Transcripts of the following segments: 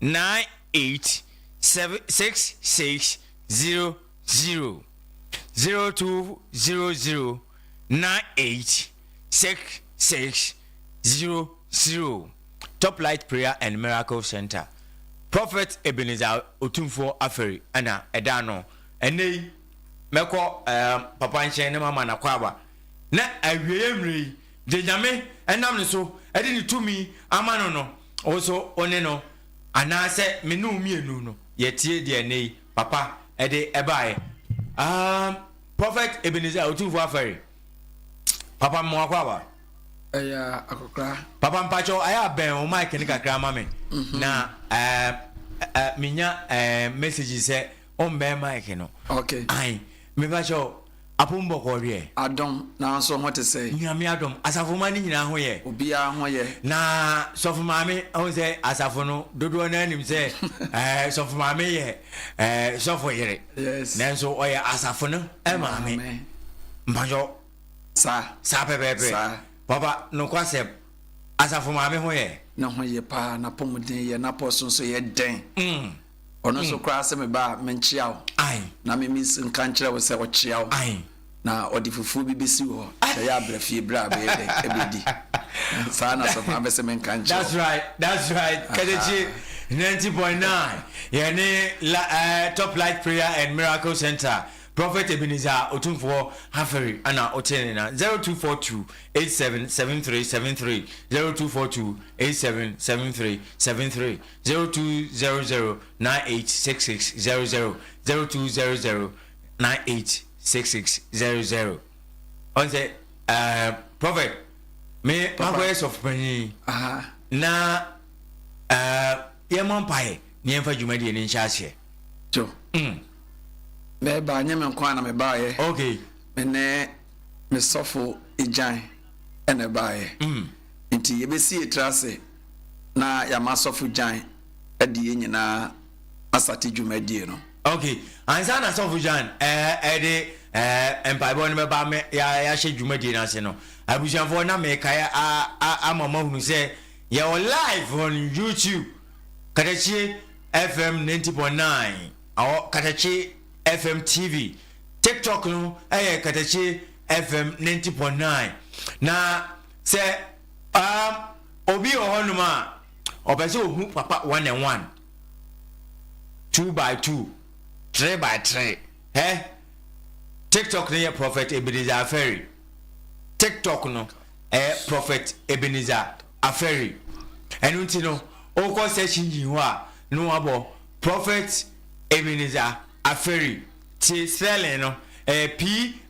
nine eight seven six six zero zero zero two zero zero nine eight six six zero zero Top Light Prayer and Miracle Center Prophet Ebenezer Otumfoɔ Aferi ɛna ɛda ano ɛnɛ yi mɛkɔ ɛɛ papa nkyɛn ne mama na kwaaba na awieɛ mmerɛ yi Deɛ Nyame nam no so de ne tumi ama no no, wo nso wo ne no, anaasɛ me ne wo mmienu no, yɛtie deɛ ɛnnɛ yi Papa de baeɛ. Ahm, Prophet Ebenezer Otumfuo Afɛre, Papa mema wo akwaaba. Ɛyɛ a, akɔkora. Papa mpakyɛw ayɛ a bɛn wo mic no kakra ma me na menya message sɛ wommɛn mic no. Okay. Ae, mepakyɛw. Apom bɔkɔɔ hwɛ. Adom, nanso ho te sɛn? Nyame adom, asafomma no nyinaa ho yɛ. Obiara ho yɛ. Na Sɔfo Maame, wohu sɛ asafo no dodoɔ no ara nim sɛ Sɔfo Maame yɛ Sɔfo yere. Yes. Nanso ɔyɛ asafo no Maame. Maame. Mpakyɛ. Saa. Saa pɛpɛɛpɛ. Saa. Papa, nokwasɛm, Asafo Maame ho yɛ. Ne ho ye paa, n'apɔmuden yɛ, n'apɔso nso yɛ den. Mm. Ɔno nso koraa se me ba menkyea wo na me me nso nka nkyerɛ wo sɛ ɔkyea wo na ɔde fufuo bi bɛsi wo hɔ sɛ yɛ abra fie berɛ a bɛyɛ dɛ ɛbɛdi. Saa na sɔfo no bɛsɛ menka nkyerɛ wo. That's right, that's right. Katakye 90.9 yɛne la, eh, Top Light Prayer and Miracle Centre Prophet Ebenezer Otumfoɔ Haferi ana wote ne na 0242 877373 0242 877373 Zero two zero zero nine eight six six zero zero zero two zero zero nine eight six six zero zero ɔn sɛ ɛɛ prɔfɛt me makɔ yɛ sɔfo panyin na ɛɛ yɛn mɔ mpa yɛ ne yɛn fa dwumadie ne nhyɛ aseɛ. jo mm. na ɛbaa nyɛ me nko a na me baa yɛ okay me ne me sɔfo egyan ɛna ɛbaa yɛ mm. nti yɛbɛsi etira ase. na yɛama asɔfo Jan adi yɛn nyinaa asate dwumadie no. Ok, ansa na asɔfo Jan de mpaebɔ no bɛba ama yɛahyɛ dwumadie no ase no, abusuafoɔ na mekae ama moahunu sɛ yɛwɔ live on YouTube, Katakye FM 90.9, ɔwɔ Katakye FM TV, TikTok no yɛ Katakye FM 90.9, na. Sɛ um obi wɔ hɔnom a ɔpɛ sɛ ohu papa one and one, two by two, three by three, hɛ, TikTok no yɛ Prophet Ebenezer Aferi. TikTok no ɛyɛ Prophet Ebenezer Aferi. Ɛno nti no, wokɔ search engine hɔ a, na wabɔ Prophet Ebenezer Aferi. Tie spelling no, ɛyɛ P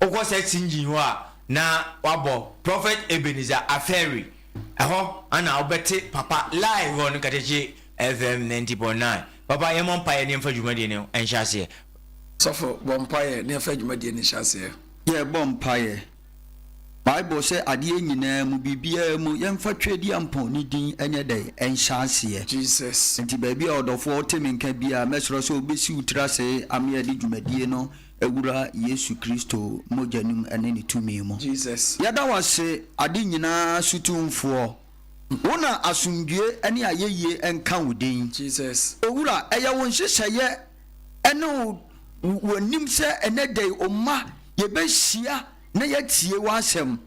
wokɔ search engine hɔ a na wabɔ prophet ebenezer afɛri ɛhɔ ana wobɛte papa live wɔ no katakye fm 90.9 papa yɛmmɔ mpaeɛ ne yɛmfa dwumadie no nhyɛ aseɛ Sɔfo, bɔ mpaeɛ na yɛmfa dwumadie no nhyɛ aseɛ. Yɛrebɔ mpaeɛ. Bible sɛ adeɛ nyinaa mu, biribiara mu, yɛmfa Tweaduampɔn ne din nyɛ dɛn? Nhyɛ aseɛ. Jesus. Nti baabi a ɔdɔfoɔ te me nka biara, mɛsrɛ sɛ wobɛsi wo tiri ase ama yɛde dwumadie no Wura Yesu Kristo mogya no mu ne ne tumi mu. Jesus. Yɛda wo ase, ade nyinaa so Tumfoɔ. Wo na asomdwoe ne ayɛyie nka wo din. Jesus. Owura, ɛyɛ wo nhyehyɛeɛ ne wo w'anim sɛ ɛnɛ da yi, wo mma, yɛbɛhyia na yɛatie w'asɛm.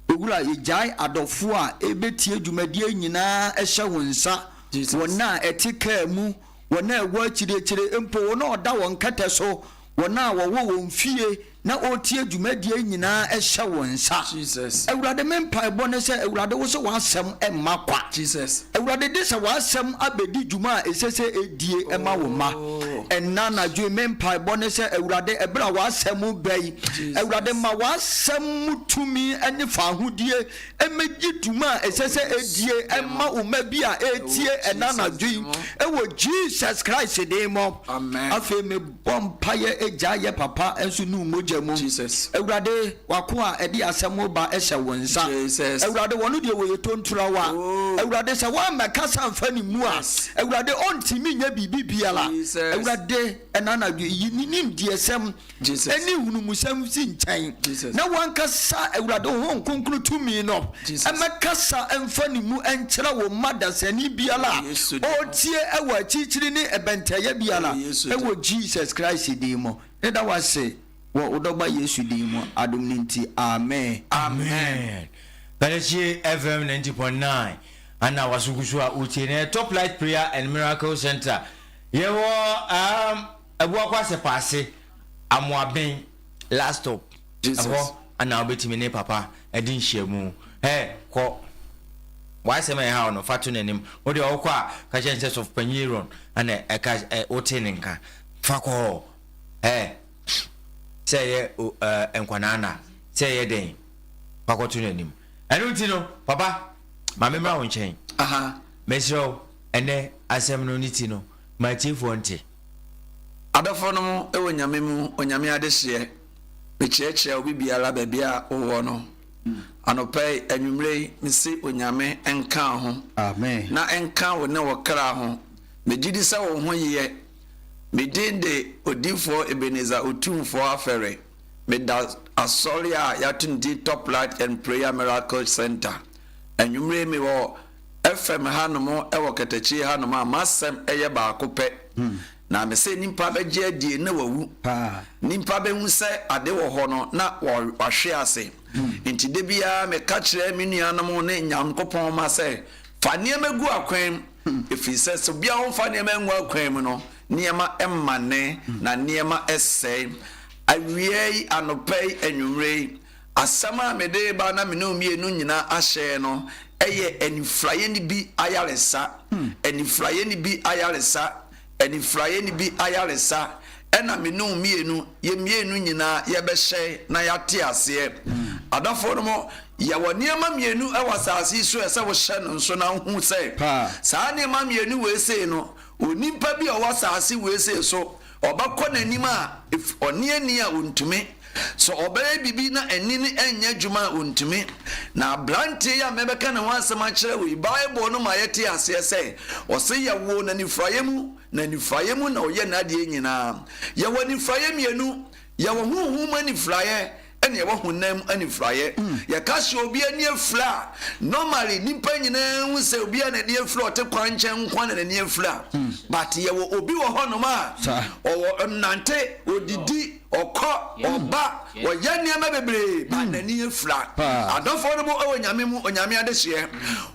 Owura, yɛgyae adɔfoɔ a ɛrebɛtie dwumadie nyinaa hyɛ wo nsa. Jesus. Wɔn a ɛte kaa mu. wɔn a ɛwɔ akyiriakyire, mpo wɔn a wɔda wɔn kɛtɛ so, wɔn a wɔwɔ wɔn fie na wɔretie dwumadie nyinaa hyɛ wo nsa. Jesus. Awurade, me mpaebɔ ne sɛ, Awurade, wo sɛ w'asɛm mma kwa. Jesus. Awurade, de sɛ w'asɛm abɛdi dwuma a ɛsɛ sɛ ɛdie ɛma wo mma. Oh. Ɛnna anadwo yi, me mpaebɔ ne sɛ, Awurade, ɛberɛ a w'asɛm bɛyi, Awurade, ma w'asɛm mu tumi ne faahodie Mmegye dwuma a ɛsɛ sɛ edie mma wo mma bi a ɛretie ɛnnɛ anadwo yi wɔ Jesus Christ din mu. Afei mebɔ mpaeɛ, Agya yɛ papa nso nu mogya mu. Awurade, w'akoa a ɛde asɛm wo ba hyɛ wo nsa. Awurade, wɔno deɛ wɔyɛ tontrawa. Awurade, sɛ woammɛkasa amfa ne mu a, Awurade, ɔntumi nyɛ biribi biara. Awurade, ɛnnɛ anadwo yi, ne nimdeɛsɛm, ne nhunumusɛm mfi nkyɛn, na w'ankasa Awurade Honhom Kronkron tumi no mmɛkasa mfa ne mu nkyerɛ wo mma dasani biara a ɔretie wɔ akyirikyiri ne ɛbɛntɛeɛ biara, wɔ Jesus Christ din mu. Meda wo ase wɔ wo Dɔba Yesu din mu, adom no nti, amen. Amen Pɛlɛkye FM ninety point nine ana waso gu so a wotie na yɛ Top Light Prayer and Miracle Centre yɛwɔ um, Ɛboa Kwasepa ase Amoaben last stop ɛhɔ na wobɛtumi ne papa adi nhyiamu Ɛ kɔ W'asɛm a ɛhaw no fa to n'anim Wo deɛ wokɔ a ka kyerɛ no sɛ Sɔfopanyin Aaron na ɛka ɛ wotee ne nka Fa kɔ hɔ Ɛ sɛ ɛyɛ o ɛ nkwadaa na sɛ ɛyɛ dɛn fa kɔto n'anim Ɛno nti no papa ma memmra wo nkyɛn Mɛsrɛ wo ɛnnɛ asɛm no ne ti no ma atiefoɔ nte. Adɔfonom wɔ Nyame mu, Onyame adehyeɛ, mekyerɛkyerɛ obi biara baabi a wowɔ no anɔpa yi, anwummerɛ yi, mese Onyame nka wo ho, na nka wo ne wo kra ho, megyedi sɛ wo ho yeɛ, me din de Odiyifoɔ Ebenezer Otumfoɔ Afɛre, meda Asɔre a yɛato ne din Top Light and Prayer Miracle Centre, anwummerɛ yi mewɔ. fam hanom wɔ katakyie hanom a m'asɛm yɛ baako pɛ, hmm. na me sɛ nipa bɛgye adie na wawu nipa bɛhu sɛ ade wɔ hɔ no na wahwe ase hmm. nti da biara meka kyerɛ me nuanom ne nyankopɔn ma sɛ fa nneɛma gu akwan mu hmm. ɛfiri sɛ sɛ obiara ho fa nneɛma ngu akwan mu no nneɛma mmane na nneɛma ɛsɛe awia yi anɔpa yi anwummerɛ yi Asɛm a mede reba na me ne wo mmienu nyinaa ahyɛ no yɛ Anifuraeɛni Bi Ayaresa. Anifuraeɛni Bi Ayaresa, Anifuraeɛni Bi Ayaresa, ɛna me ne wo mmienu, yɛn mmienu nyinaa yɛbɛhyɛ na yɛate aseɛ. Adɔfoɔ nom, yɛwɔ nneɛma mmienu wɔ asase yi so a ɛsɛ wohyɛ no nso na wohu sɛ saa nneɛma mmienu wei sei no, onipa bi a ɔwɔ asase wei sei so, Ɔbɛkɔ n'anim a, ɔnneɛnni a ɔntumi. Sɛ ɔbɛyɛ biribi na ani no nyɛ adwuma a, ɔntumi. Na aberanteɛ yi a mɛbɛka ne ho asɛm akyerɛ wo yi, Bible no ma yɛte aseɛ sɛ, ɔse yɛwoo no anifuraeɛ mu, na anifuraeɛ mu na ɔyɛ n'adeɛ nyinaa. Yɛwɔ anifuraeɛ mmienu, yɛwɔ honhom mu anifuraeɛ Ɛneɛ wɔ honam mu anifuraeɛ. Yɛka sɛ obi ani afira a, normally nnipa nyinaa hu sɛ obi a n'ani afira a ɔte kwankyɛn nko ara na n'ani afira. But yɛwɔ obi wɔ hɔnom a, ɔwɔ, ɔnante, ɔdidi, ɔkɔ, ɔba, ɔyɛ nneɛma bebree, but n'ani afira. Adɔfoɔ no mo wɔ Nyame mu, Onyame adehyeɛ.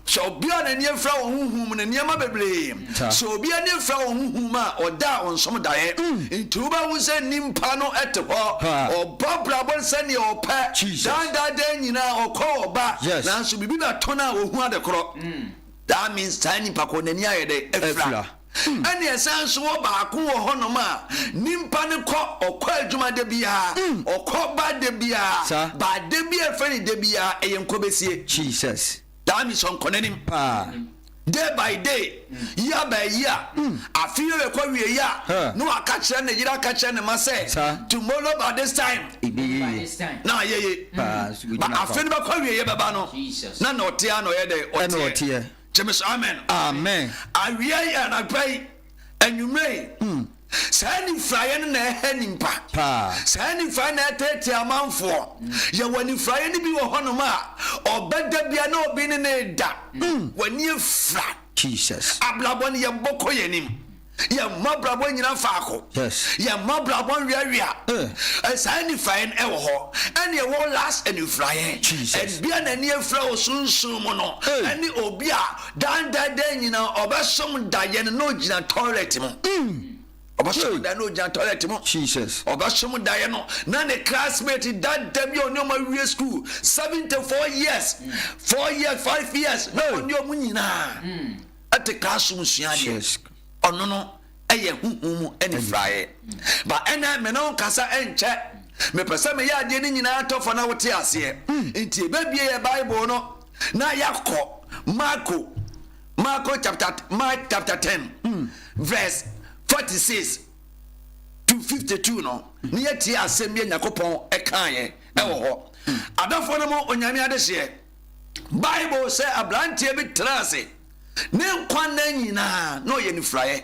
Sɛ obi a n'ani afira wɔ honhom mu no, nneɛma bebree. Sɛ obi ani afira wɔ honhom mu a, ɔda a ɔnsom daeɛ. Enti wobɛhu sɛ nipa no te hɔ, ɔbɔ abrabɔ sɛdeɛ ɔpɛ, daa daa daa nyinaa ɔkɔ ɔba, nanso biribi bɛto no a ɔhu adekorɔ. That means saa nipa korɔ n'ani ayɛ dɛn? Afira. Ɛnna ɛsan nso wɔ baako wɔ hɔnom a nimpa no kɔ, ɔkɔ adwuma da biara, ɔkɔ ba da biara, ba da bi a ɛfrɛ no da biara, ɛyɛ nkɔbesie. Jesus. That means ɔnkɔ n'anim. Paa. Day by day, year by year, afi yɛ bɛkɔ wie yɛ a, na waka kyerɛ ne yere aka kyerɛ ne ma sɛ, tomorrow by this time. Ebi yeye. Na ayeye. Paa. Ba afi no bɛkɔ wie yɛ bɛba no, na na ɔte a na ɔyɛ dɛ ɔteɛ. Ɛna ɔteɛ. gyeme so amen amen awia yi anapa yi anwummerɛ yi hmm. saa nifuraeɛ no na ɛhɛ nimpa saa nifuraeɛ na ɛtɛɛtɛ amanfoɔ hmm. yɛwɔ nifuraeɛ no bi wɔ hɔnom a ɔbɛda bia na obi ne ne da hmm. w'ani afira abrabɔ no yɛbɔkɔ yɛnim Yɛn mmabrabɔ nnyina faako. Yɛn mmabrabɔ nweawea. Saa nnifaeɛ no ɛwɔ hɔ. Ɛne ɛwɔ last anifuraeɛ. Ɛbi a n'ani afira wɔ sunsum mu no ɛne obi a dan dan dan nyina ɔbɛsom daeɛ no na ɔgyina toilet mu. Ɔbɛsom daeɛ na ɔgyina toilet mu. Ɔbɛsom daeɛ no na ne classmate dada bi a ɔne ɔmo awie school seventy four years four years five years na ɔne ɔmo nyinaa. te kaa som sua adeɛ ɔno no ɛyɛ huhu mu anifraeɛ ba ɛnɛ me ne nkasa ɛnkyɛ mepɛ sɛ meyɛ adeɛ no nyinaa tɔfɔ na wote aseɛ nti ɛbɛbie yɛ bible no na yɛakɔ marko marko chapter mark chapter 10 verse 46 to 52 no ne yɛtie asɛm bi a nyankopɔn ɛkaeɛ ɛwɔ hɔ adɔfoɔ no mu onyame adehyeɛ Bible sɛ aberanteɛ bi tenaa ase ne nkwa nna nyinaa na ɔyɛ nifraeɛ.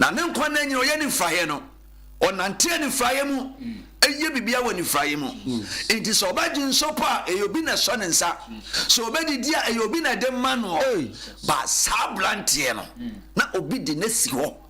Na ne nkwa nna nyinaa ɔyɛ nifraeɛ no, ɔnante anifraeɛ mu, ɛyɛ biribiara wɔ nifraeɛ mu. Nti sɛ ɔbɛgye nsɔpɔ a, ɛyɛ obi na ɛsɔ ne nsa. Sɛ ɔbɛdidi a, ɛyɛ obi na ɛde ma noɔ. Ba saa aberanteɛ no, na obi de no asi hɔ.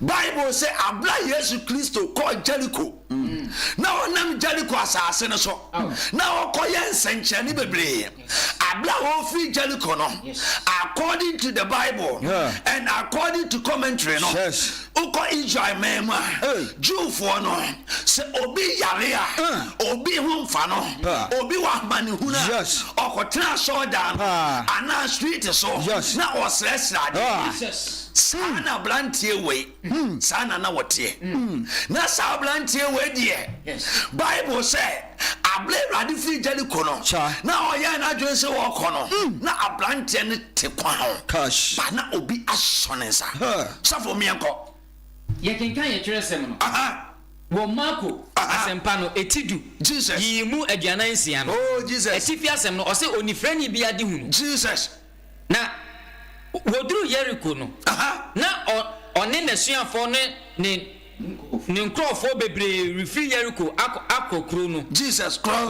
Bible se bere a Yesu Kristo kɔɔ Jeriko na ɔnam Jeriko asase no so na ɔkɔyɛ nsɛnkyerɛnne bebree. Bere a ɔrefiri Jeriko no, according to the Bible and according to commentary no, wokɔ Israel man mu a, Jewfoɔ no, sɛ obi yare a, obi ho mfa no, obi wɔ amanehunu a, ɔkɔtena asɔredan no anaa street so na ɔsrɛsrɛ adeɛ. Saa na abranteɛ wei, saa na na wɔteɛ. Na saa abranteɛ wei deɛ, Bible sɛ, abere Awurade firi Jeriko no, na ɔyɛɛ n'adwene sɛ ɔrekɔ no, na abranteɛ no te kwan ho, ba na obi asɔ ne nsa. Sɔfo, meɛnkɔ. Yɛkenkan yɛn twerɛsɛm no wɔ Marko Asɛmpa no, eti du, yiyi mu aduanan nsia no, atifi asɛm no, ɔse, Onifirani bia de hunu. Na wɔduruu Yeriko no, na ɔne n'asuafoɔ no ne ne nkurɔfoɔ bebree refiri Yeriko akɔ kuro no.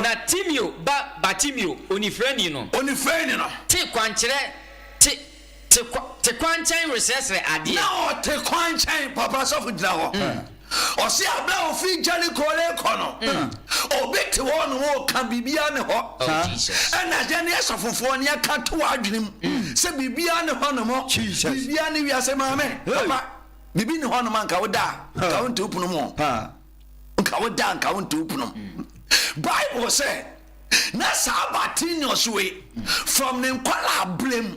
Na Timeo ba Bartimeo, onifirani no, te kwankyerɛ, te, te, te kwankyɛn resrɛsrɛ adeɛ. Ɔse aberɛ a ɔfiri Jericho rekɔ no, obi te hɔ na ɔreka biribiara ne hɔ. Ɛna yɛne asɔfofoɔ ne yɛka to w'adwene mu sɛ biribiara ne hɔnom, biribiara ne wiase maame. Papa, biribi ne hɔnom a nka wo da a, nka wo nte wo pono mu. Nka wo da a, nka wo nte wo pono mu. Bible sɛ na saa Bartimaeus wei from ne nkwadaa berɛ mu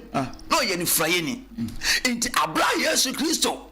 na ɔyɛ nifurayɛni. Nti aberɛ a Yesu Kristo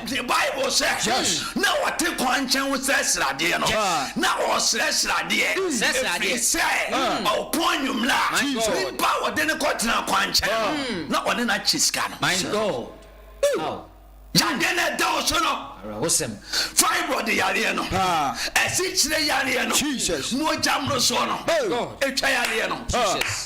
The Bible sɛ na ɔte kwankyɛn ho srɛ sradeɛ no, na ɔresrɛ sradeɛ ɛfiri sɛ ɔpɔn anwummerɛ a nipa a ɔde no kɔtena kwankyɛn no na ɔne no akye sika no. Yadeɛ no ɛda wo so no, fibroid yareɛ no, asikyire yareɛ no, mogya mmorosoɔ no, ɛtwa yareɛ no.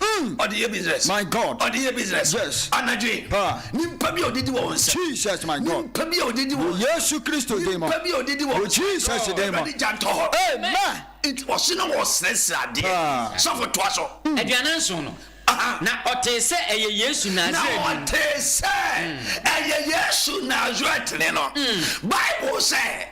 Mm. Ɔde yɛ business. My God. Ɔde yɛ business. Yes. Anadwe. Pa. Nimpa bi a ɔde di wɔ wɔn nsam. Jesus my God. Nimpa bi a ɔde di wɔ. Wɔ Yesu Kristo din mu. Nimpa bi a ɔde di wɔ. Wɔ Jesus din mu. Ɛbɛde gya ntɔ hɔ. Amen. Nti ɔsi na wɔsrɛsrɛ adeɛ. Sɔfo toa so. Mm. Aduanan nson no. Na ɔtee sɛ ɛyɛ Yesu Nasaretni. Na ɔtee sɛ mm. ɛyɛ Yesu Nasaretni no. Mm. Bible sɛ.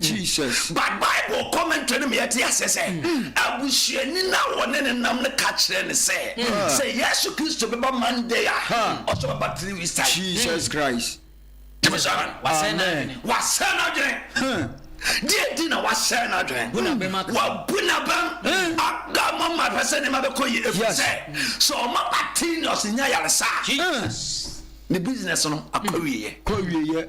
Jesus. But Bible commentary no ma yɛte aseɛ sɛ abusuani no a wɔne no nam no ka kyerɛ no sɛ sɛ Yesu Kristo bɛba Monday a ɔsɛ ɔbɛba three weeks time. Jesus Christ. Gyeme so amen. Wasɛe n'adwene. Wasɛe n'adwene. Deɛ nti na wasɛe n'adwene. Bu n'abam aka. Wabu n'abam aka ama ɔma ahwɛ sɛ nneɛma bɛkɔ yie efiri Yes. sɛ sɛ ɔma ba tinios nya yaresa a Jesus. ne business no akɔ awieeɛ. Kɔ awieeɛ.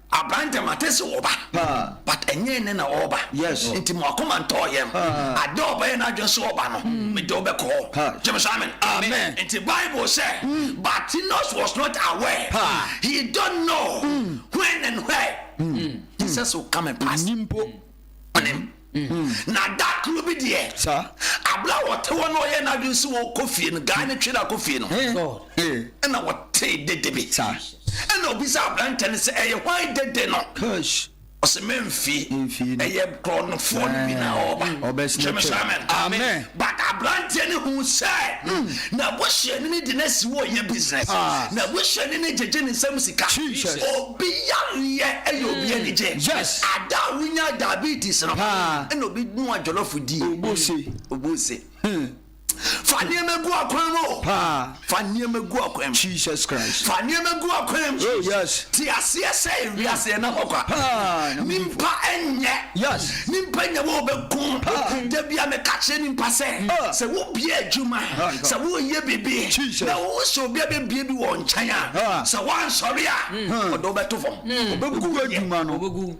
Aberanteɛ mate se ɔba but ɛnyɛ ɛnɛ na ɔɔba nti mo akoma ntɔɔ yɛm ada ɔbɛyɛ n'adwen se ɔba no mede wo bɛkɔ hɔ gyeme so amen nti bible sɛ Bartimaeus was not aware he don't know when and where Jesus will come and pass. ne mu na da koro bi deɛ abla wɔte hɔ na ɔyɛ n'adwene sɛ wɔkɔ fie no guy no twere akɔ fie no ɛna wɔtee dede bi ɛna obi sɛ aberantɛ no sɛ ɛyɛ hwan dede no ɔsɛ mɛmfie ɛyɛ korɔnofoɔ no bi na ɔba kyɛmɛ sɛ amen But abranteɛ no hu sɛ n'abusuani no de no asi hɔ reyɛ business. N'abusuani no gyegye ne nsam sika. Obi yareɛ yɛ obi anigye. Ada a wonyaa diabetes no, ɛna obi noa jollof dii. Obose. Fa nneɛma gu akwan mu o. Fa nneɛma gu ɔkwan mu. Jesus Christ. Fa nneɛma gu ɔkwan mu. Oh yes. Te aseɛ sɛ ewiase yɛ nahɔ kwa. Haa. Nimpa nyɛ. Yes. Nimpa nyɛ wo bɛ ko. Haa. Da bi a me ka kyerɛ nimpa sɛ. Haa. Sɛ wo bie adwuma. Haa. Sɛ wo yɛ bibi. Jesus. Na wo sɛ obi a bɛ bie bi wɔ nkyɛn a. Haa. Sɛ wa nsɔre a. Haa. Ɔde wo bɛ to fam. Ɔbɛ gu adwuma no. Ɔbɛ gu.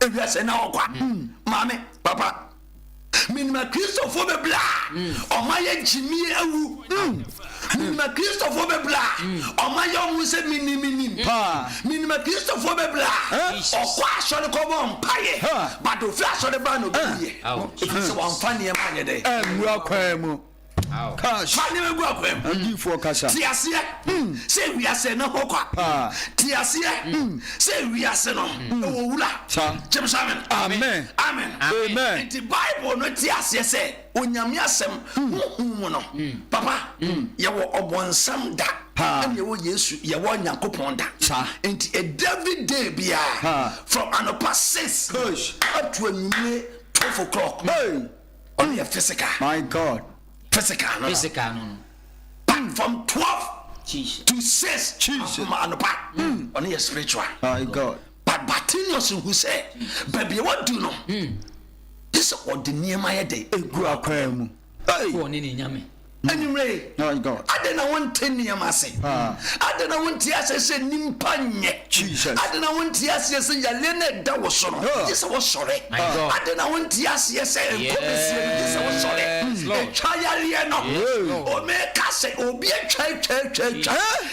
Ewia sɛ na ɔkwa. Mm. Maame, papa, menim akristofoɔ bebree a ɔma mm. yɛ gyimie awu. Mm. Menim akristofoɔ bebree a ɔma yɛ ɔmo sɛ menim menim. Menim akristofoɔ bebree a ɔkɔ asɔre kɔ bɔ mpaeɛ badofiri asɔre baa na obi yɛ. Efi sɛ wɔn fa nneɛma anyɛ dɛ. Ɛnwura kwan mu. Fa nneɛma gu akwaa mu. Adiyifoɔ kasa. Te aseɛ sɛ wiase no ho kwa. Te aseɛ sɛ wiase no wɔ wura. Gyeme so amen. Amen. Amen. Amen. Nti Bible no te aseɛ sɛ Onyame asɛm honhom mu no. Papa, yɛwɔ ɔbonsam da ɛna yɛwɔ Yesu, yɛwɔ Nyankopɔn da. Nti every day biara from anɔpa six up to anwummerɛ twelve o'clock. Ɔno yɛ physical. My God. Physical no. Physical no no. But from twelve. Jesus. To six. Jesus. Akoma anopa. Hmm. Ɔno yɛ spiritual. My God. But Bartimaeus hu sɛ baabi a wadu no. Hmm. Yɛ sɛ ɔde nneɛma yɛ dɛ. Egu akwan mu. Hey. Ɔne ne nyame. Anwummerɛ yi, adɛn na wonte nneɛma ase? Adɛn na wonte aseɛ sɛ nnipa nyɛ? Adɛn na wonte aseɛ sɛ yareɛ no ɛda wo so no, gye sɛ wosɔre? Adɛn na wonte aseɛ sɛ nkɔ bɛsie no, gye sɛ wosɔre? Ɛtwa yareɛ no. O meka sɛ obi atwa atwa atwa atwa.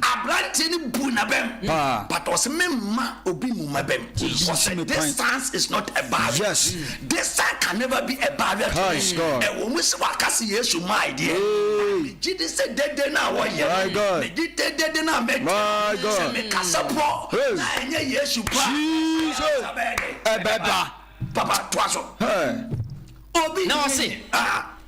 Abranteɛ no buu n'abam. But ɔse memma obi mmu m'abam. Ɔse distance is not a barrier. Distance can never be a barrier to me. Ɛwɔ mu sɛ waka sɛ Yesu mmae deɛ, but megye di sɛ dede no a wɔyɛ no, megye di dede no a mɛka no, sɛ mekasa po na ɛnyɛ Yesu po a, nsa bɛyɛ dɛn? Ɛbɛba. Papa, toa so. Obi ntumi nye.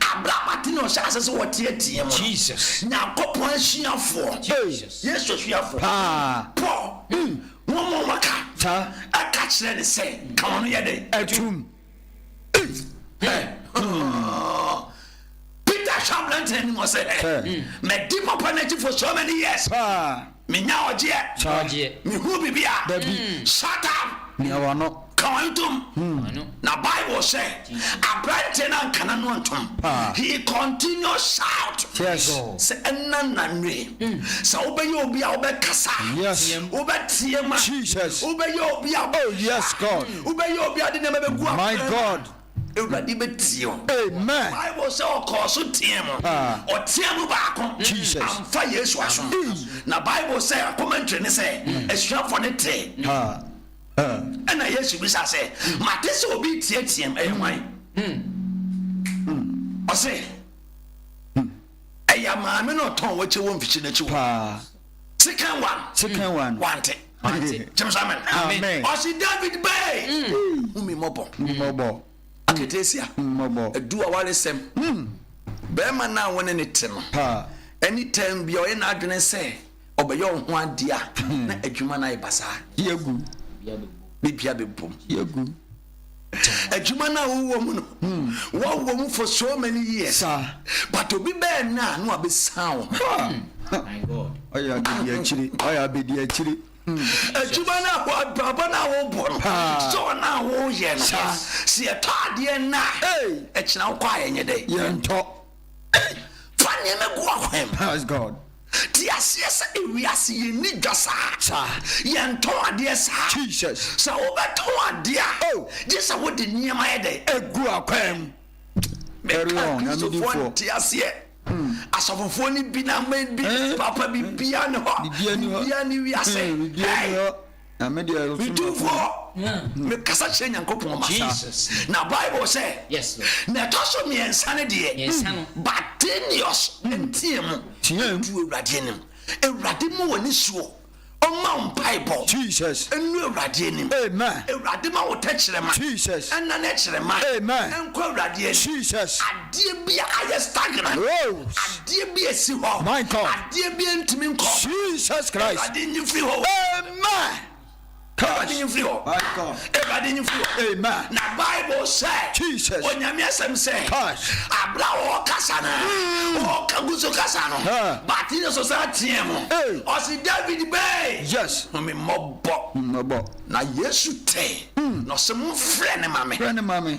Abrɛ abɔden na ɔhyɛ ase sɛ ɔteɛteɛ mu no, Nyankopɔn asuafoɔ, Yesu asuafoɔ, Paul, wɔn a wɔka, ɛka kyerɛ ne sɛ, ka wɔn yɛ dɛn? Atum. Peter hwɛ aberante no anim ɔsɛ, madi papa no akyifo so many years. Menya ɔgyeɛ. Nya ɔgyeɛ. Mehunu biribi a. Dabi. Shut up. Mia w'ano. Ka w'ano tom. W'ano. Na Bible sɛ, aberanteɛ no anka n'ano antom. Paa. He continued shout. Yes. Sɛ ɛnna nna nnue. Sɛ wobɛyɛ obi a wobɛkasa. Yes. Team. Wobɛteam a. Jesus. Wobɛyɛ obi a wobɛkasa. Oh, yes, God. Wobɛyɛ obi a wode nneɛma bɛgu akorɛ mu. My God. Awurade bɛtie wo. Bible sɛ ɔkɔɔ so teɛ mu, ɔteɛ mu baako amfa Yesu aso. Na Bible sɛ commentary ne sɛ asuafoɔ no tee. Ɛna Yesu bisa sɛ, mate sɛ obi teateam, ɛyɛ hwan? Ɔse, ɛyɛ maame no ɔtɔn wakye wɔ mfikyi no akyi wɔ. Second one. Second one. Wante. Wante. James amen. Amen. Ɔsi David bɛɛ. Mm. Hu mi mɔbɔ. Mi mɔbɔ. Aketesia. Mi mɔbɔ. Edu awaresɛm. Mm. Bɛrima naa wɔne ne te no. Ha. Ɛni tɛm bia ɔyɛ n'adwene sɛ ɔbɛyɛ ɔho adeɛ a hmm. na adwuma no ayɛ basaa. Yegu. Bibia bɛ bom. Yegu. adwuma no a wowɔ mu no wɔwɔ mu for so many years but obi bɛɛ na na wabɛsan wo ho ɔyɛ abɛdi akyire ɔyɛ abɛdi akyire adwuma no a abrabɔ no a wobɔ no sɔɔ no a woyɛ no sɛ yɛtɔ adeɛ no a ɛkyena wokɔ a yɛnyɛ dɛ yɛntɔ fa nneɛma gu akwan Te aseɛ sɛ ewiase yɛ nni dwa saa. Sa. Yɛ ntɔn adeɛ saa. Jesus. Sɛ wo bɛ tɔn adeɛ a. Oh. Gye sɛ wo de nneɛma yɛ dɛn. Egu akwan mu. Carry on. Meka Kristofoɔ nte aseɛ. Hmm. Asɔfofoɔ ne bi na aman bi. Eh. Papa bibiaa ne hɔ. Bibiaa ne hɔ. Bibiaa ne wiase. Eh. Bibiaa ne hɔ. Hey. medu hɔ mekasa kyerɛ nyankopɔn masa na bible sɛ na ɛtɔ so mmiɛnsa no deɛ batenius nteɛ mu ɛdu awurade anim awurade mu wɔ ne suo ɔma wo mpaebɔ ɛnu awurade anim awurade ma wo tɛkyerɛma ɛna ne kyerɛma ɛnkɔ awurade anim Adeɛ bi a ayɛ stagnant. Woes. Adeɛ bi a ɛsi hɔ. My God. Adeɛ bi a ɛntumi nkɔ. Jesus Christ. Awurade nyi mfiri hɔ. Amen. Awurade nyi mfiri hɔ. My God. Awurade nyi mfiri hɔ. Amen. Na Bible sɛ. Jesus. Onyame asɛm sɛ. Touch. Abla ɔkasa no. Mm. Ɔka gu so kasa no. Ah. But yɛ so saa teɛ mu. Hey. Ɔsi David bɛɛ. Yes. Mo mi mmɔbɔ. Mmɔbɔ. Na Yesu tɛ. Mm. Na ɔsɛ mo frɛ ne ma me. Frɛ ne ma me.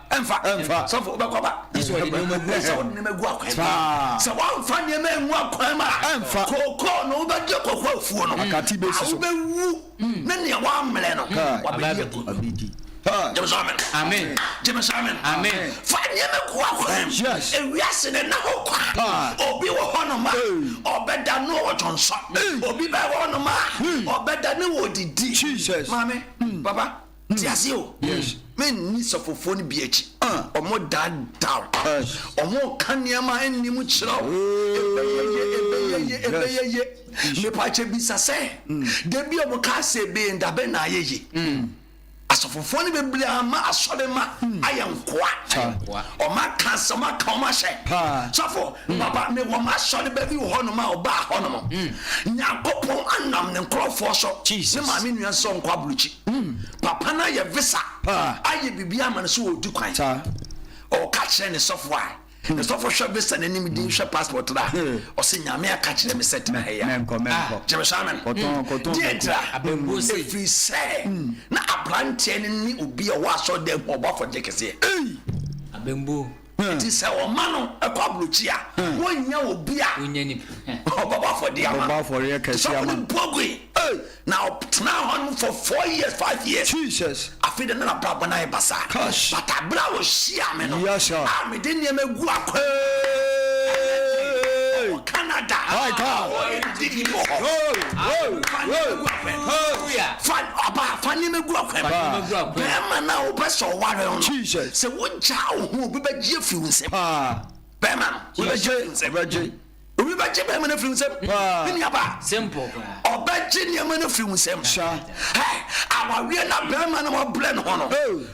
Ɛmfa, ɛmfa. Sɔfo, wobɛkɔ aba. Gye sɛ wɔde nneɛma gu ansa wɔde nneɛma gu akwan mu. Sɛ wɔamfa nneɛma angu akwan mu a, ɛmfa. Kookoo no, wobɛgye kookoo afuo no. Akate bɛsi so. A wobɛwu, ne nea wɔammrɛ no, wabɛdi agu. Abɛdi. Gyeme sɛ amen. Amen. Gyeme sɛ amen. Amen. Fa nneɛma gu akwan mu. Yes. Ewiase ne na hɔ kwa. Obi wɔ hɔ nom a, ɔbɛda no wɔ dwonsɔ. Obi bɛwɔ hɔ nom a, ɔbɛda ne wɔ didi. Jesus. Maame, papa. Ti ase o. Yes. Me nni sɔfofoɔ no bi akyi. Ɔmo daadaa wo. Ɔmo ka nneɛma ɛnni mu kyerɛ wo. Ebɛyɛ ye, ebɛyɛ ye, ebɛyɛ ye. Mepakyɛ bisa sɛ, da bi ɔmo kaa sɛ ebɛyɛ nda bɛn na ayɛ ye? Asɔfofoɔ no bebree ama asɔre ma ayɛ nkoa. Ɔmo aka asɛm, ɔmo aka ɔmo ahyɛ. Sɔfo, papa, me wɔ m'asɔre ba bi wɔ hɔ nom a ɔbaa hɔ nom. Nyankopɔn anam ne nkorɔfoɔ so, ne maame nua sɛ ɔnkɔ aburukyi. Papa no ayɛ visa ayɛ biribi ama no sɛ ɔdi kwan. Ɔka kyerɛ ne sɔfo a, ne sɔfo hwɛ visa no anim din hwɛ passport no a, ɔsɛ Nyame aka kyerɛ me sɛ tena ha yi a. Gyeme so amen. Deɛ ntira, ɛfiri sɛ na abranteɛ no ne obi a ɔwɔ asɔredan mu ɔbɔ afɔgye kɛseɛ. Abɛmbuo. Enti sɛ wɔma no kɔ aburokyi a, wonnya obi a ɔbɛbɔ afɔdeɛ ama no. Te sɛ ɔkɔre Mpogui, na ɔtenaa hɔ nom for four years, five years. Afei deɛ na n'abrabɔ no ayɛ basaa. But aberɛ a ɔhyiaa me no, ah, mede nneɛma gu akwan. Canada my God Didi wɔ hɔ Fa aba fa nneɛma gu akwan mu Bɛrima no a wopɛ sɛ ɔware wo no Sɛ wogyaa wo ho obi bɛgye afiri wo nsam Bɛrima no obi bɛgye afiri wo nsam Obi bɛgye bɛrima no afiri wo nsam Me nuaba Ɔbɛgye nneɛma no afiri wo nsam Hɛ awareɛ no a bɛrima no ɔbrɛ ne ho no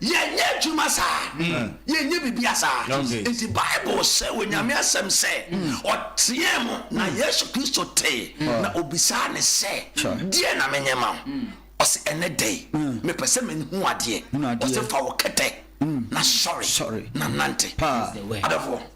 Yɛnyɛ adwuma saa, yɛnyɛ biribiara saa. Enti Bible se wɔ Nyame Asɛm sɛ, Ɔteɛɛ mu, na Yesu Kristo tee, na ɔbisaa no sɛ, Deɛn na menyɛ ma wo? Ɔse, Ɛnnɛ da yi, mepɛ sɛ menhu adeɛ. Ɔse, Fa wo kɛtɛ na sɔre na nante. Adɔfoɔ.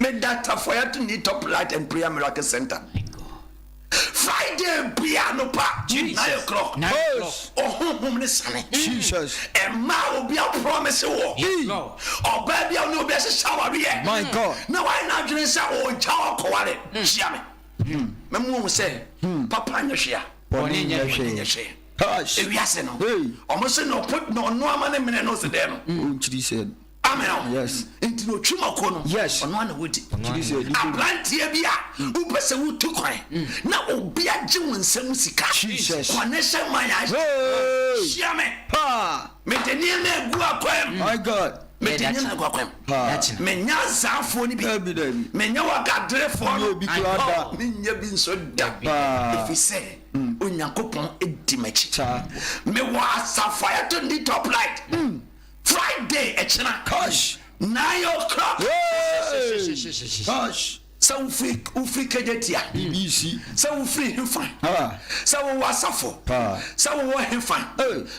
Me da tafoya to need top light and prayer miracle center. Friday bia no pa to nine o'clock. Ohunhum ne sane. Jesus. Emma obi a promise wo. Ọba bia ne obi a ṣe shawari yẹ. My God. Na why na adwene sɛ ɔgya ɔkɔware. Hyia me. Na mu ohun sɛ papa nyɛ hwea. Bɔne nyɛ hwee. Ewiase no. Ɔmo se na ɔpo na ɔno ama ne mene no se dɛ no. Ɔnkyiri sɛ. Amen. Yes. Nti na otwi mako no. Yes. Ɔno ana wodi. Abranteɛ bi a wopɛ sɛ wotu kwan na obi agye wo nsam sika. Jesus. Connection man a hyia me. Mede nneɛma agu akwam. My God. Mede nneɛma agu akwam. Menya azaafoɔ no bi. Menya wagaderefoɔ no. Menya bi nso da. Ɛfiri sɛ Onyankopɔn di m'akyi. Mewɔ asafo a yɛto ne din top light. Friday ɛkyena nine o'clock sɛ wofiri kedetia sɛ wofiri hefa sɛ wowɔ asafo sɛ wowɔ hefa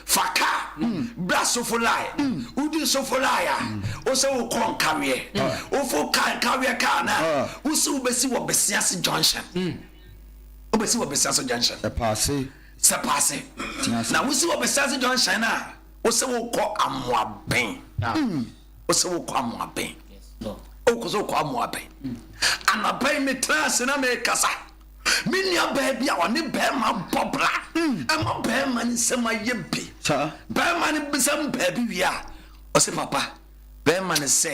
fa ka bra sofolae wodi sofolae a wo sɛ wokɔ nkaweɛ wofo ka nkaweɛ kaa no a wo sɛ wobɛsi wɔ besiase junction wobɛsi wɔ besiase junction sɛ paase na wosi wɔ besiase junction a wosɛ wokɔ amoabɛn wosɛ wokɔ amoabɛn wokɔ sɛ wokɔ amoabɛn anabɛn metra ase na mekasa me nua baa bi a ɔne bɛrima bɔ bra ɛma bɛrima no nsɛm ayɛ bi bɛrima no bisɛm baabi wie a ɔsɛ papa bɛrima no sɛ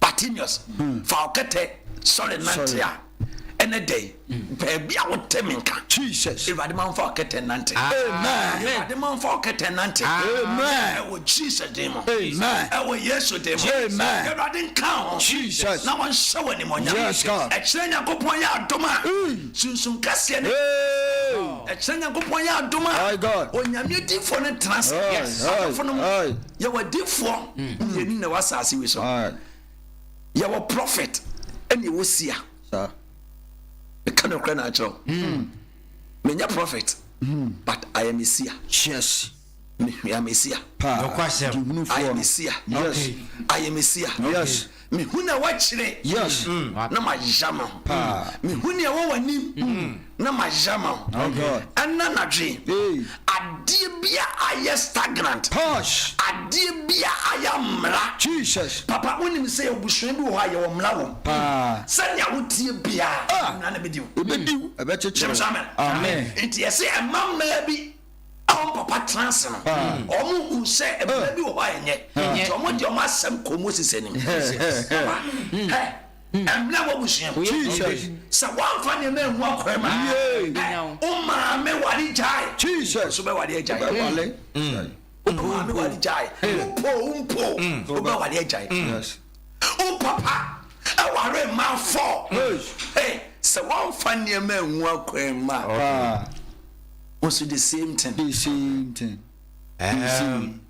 Bartimeus, fa wo kɛtɛ sɔre nante a. Ɛnɛ da yi, baabi a wote me nka. Jesus. Awurade ma mfa wo kɛtɛ nante. Amen. Awurade ma mfa wo kɛtɛ nante. Amen. Ɛwɔ Jesus din mu. Amen. Ɛwɔ Yesu din mu. Amen. Awurade nka ho. Jesus. Na wɔnhyɛ wɔ animuonyam. Yes, God. Ɛkyerɛ Nyankopɔn yɛ adom a. Sunsun kɛseɛ ne. Ɛkyerɛ Nyankopɔn yɛ adom a. My God. Onyame difoɔ no tena ase. Yes. Adɔfo no mu. Yɛwɔ adiifoɔ mmienu na ɛwɔ asase wi so. Yɛwɔ prɔfɛt ɛna ɛwɔ sia. Meka no korɛ na akyerɛ wo. Hmm. Menyɛ prɔfɛt hmm. but I am a seer. Yes. Me, I am a seer. Nokwasɛm. I am a seer. Yes. I am a seer. Yes. Me hu nea woakyerɛ na mayera ma ho Me hu nea ɛwɔ w'anim na mayera ma ho Ɛna nadwe adeɛ bi a ayɛ stagnant Adeɛ bi a ayɛ amera Papa wonim sɛ yɛwɔ abusua bi wɔ hɔ a yɛwɔ mmera wɔ mu Sɛnea woteɛ biara mmera no bɛdi wo Gyeme sɛ amen Enti ɛse ɛma mmaa bi a wɔn papa tena ase no, wɔn hu sɛ ɛbɛn bi wɔ hɔ a ɛnyɛ, nti wɔn de wɔn asɛm kɔ Moses anim. Papa, hɛ, ɛmla wɔ busua mu. Jesus. Sɛ wɔn fa nneɛma ɛmu akɔɛ ma, hɛ, o maame wale gyae. Jesus. So bɛ wale agyae. Bɛ wale. O maame wale gyae. O po, o mpo, o bɛ wale agyae. Yes. Wo papa aware mmaa four. Hey, sɛ wɔmfa nneɛma anwu akwan mma. Also the same thing. The same thing. Um,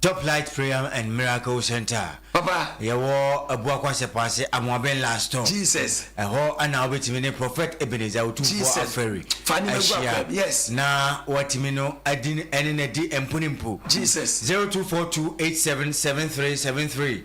Top Light Prayer and Miracle Center. Papa. Yɛwɔ Abuakwa Sɛpɔase Amoaben Last Stop. Jesus. Ɛhɔ ana wobɛtumi ne Prophet Ebenezer Otumfoɔ Afɛri ahyia. Yes. Na watumi no adi ɛne no adi mpo ne mpo. Jesus. 0242877373.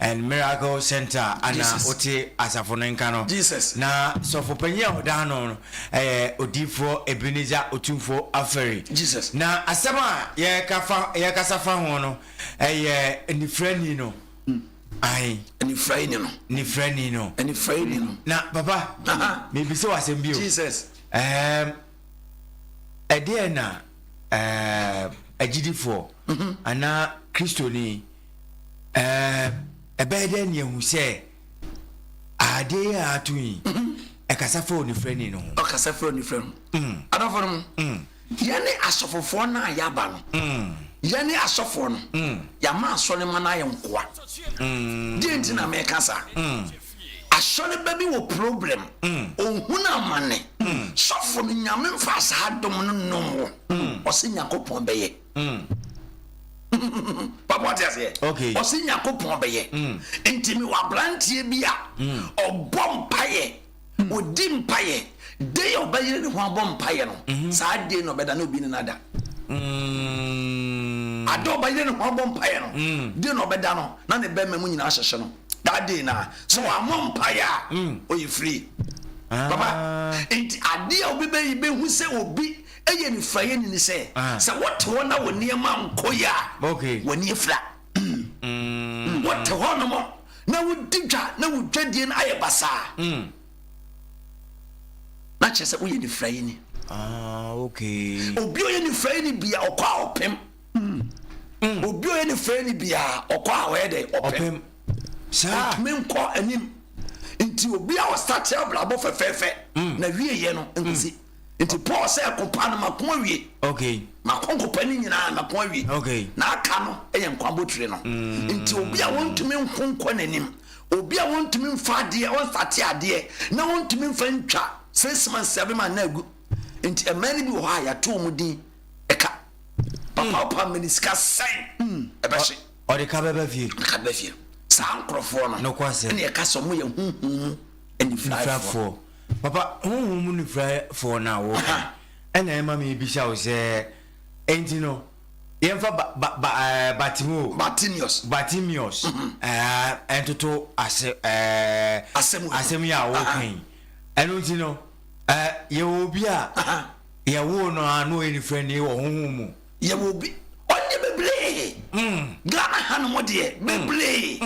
and Miracle Centre a ana wote asafo no nka no. Na sɔfo panyin a ɔda ano no yɛ Odiyifoɔ Ebenezer Otumfuo Aferi. Na asɛm a yɛreka fa yɛrekasa fa ho no yɛ Anifirani no. Ae. Anifirani no. Anifirani no. Anifirani no. Na papa, mebisa wo asɛm bi o. Jesus. Ɛɛm, ɛdeɛ na ɛɛm agyidifoɔ anaa Kristoni Ɛbɛyɛ dɛn ne ahu sɛ adeɛ yi a ato yi ɛkasa fa onifirani no ho? Ɔkasa fa onifirɛ no ho. Adɔfo no mo, yɛne asɔfofoɔ no a yɛaba no, yɛne asɔfoɔ no, yɛama asɔre ma no ayɛ nkoa. Deɛ nti na meka saa, asɔre ba bi wɔ problem, ɔhunu amane, sɔfo no nyame mfa saa dom no nom wo, ɔse Nyankopɔn bɛyɛ. papa wate aseɛ ɔse nyankopɔn bɛyɛ nti mewɔ abranteɛ bi a ɔbɔ mpayɛ ɔdi mpayɛ de yɛ ɔbɛyere ne ho abɔ mpayɛ no saa deɛ na ɔbɛda ne obi ne no ada ada ɔbɛyere ne ho abɔ mpayɛ no deɛ na ɔbɛda no na ne bɛma mu nyinaa hyɛhyɛ no that day na sɛ wɔamɔ mpayɛ a ɔyɛ free papa nti adeɛ a obi bɛyi bɛhu sɛ obi Eye ne fura yeni ne sɛ, sɛ wote hɔ na wo nneɛma ankɔ yie a, w'ani afira. Wote hɔnom na wodi dwa na wo dwadie no ayɛ basaa na kyerɛ sɛ woyɛ nifurayeni. Obi a ɔyɛ nifurayeni bia ɔkɔ a ɔpem. Obi a ɔyɛ nifurayeni bia ɔkɔ a ɔyɛ dɛ ɔpem. Ɔtumi nkɔ anim. Nti obi a ɔsate abrabɔ fɛfɛɛfɛ na wieɛ no nkosi. Nti Paul sɛ ɛkopa no mako awie. Okay. Mako nkopa no nyinaa mako awie. Okay. Na aka no yɛ nkwa botire no. Mm. Nti obi a wɔntumi nko nkɔ n'anim, obi a wɔntumi nfa adeɛ, wɔnfate adeɛ, na wɔntumi nfa ntwa six months seven months na agu. Nti mmaa no bi wɔ hɔ a yɛato wɔn din ɛka. Papa hmm. ɔpa mmeni sika sɛn hmm. ɛbɛhye. Ɔde ka bɛba fie. Ɔde ka bɛba fie. Saa nkorɔfoɔ no. Nokɔ asɛm. Ɛna ɛka sɛ wɔn yɛ huhum mu. anifuraefoɔ. Papa, honhom mu nifuraefoɔ no a wɔka ɛna ɛma mebisa wo sɛ, enti no yɛmfa ba, ba, ba, ɛɛ, Bartimeo, Bartimeus, Bartimeus ɛɛ, ntoto ase, ɛɛ, Asɛm wei. asɛm yi a wɔka yi. Ɛno nti no, ɛɛ, yɛwɔ obi a yɛwoo no a na ɔyɛ nifurani wɔ honhom mu. Yɛwɔ obi ɔnyɛ bebree Ghana ha nom deɛ bebree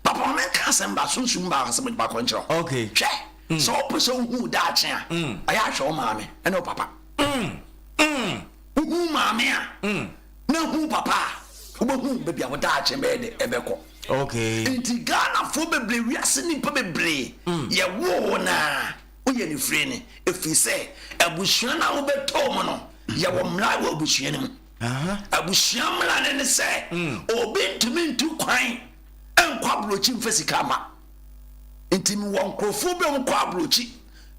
papa ma menka asɛm ba sunsum ba asɛm baako nkyerɛ wo hwɛ sɛ wopɛ sɛ wohu daakye a ɛyɛ ahwɛ wo maame ɛne wo papa wohu maame a na hu papa a wobɛhu baabi a wo daakye bɛyɛ de ɛbɛkɔ nti Ghanafoɔ bebree wiase nnipa bebree yɛwoo naa woyɛ no firi no, ɛfiri sɛ abusua no a wobɛtoo mu no, yɛwɔ mmara wɔ abusua no mu. Abusua mmara no ne sɛ mm. obi ntumi ntu kwan nkɔ aburokyi mfa sika ma. Nti mewɔ nkurɔfoɔ bi a wɔkɔ aburokyi,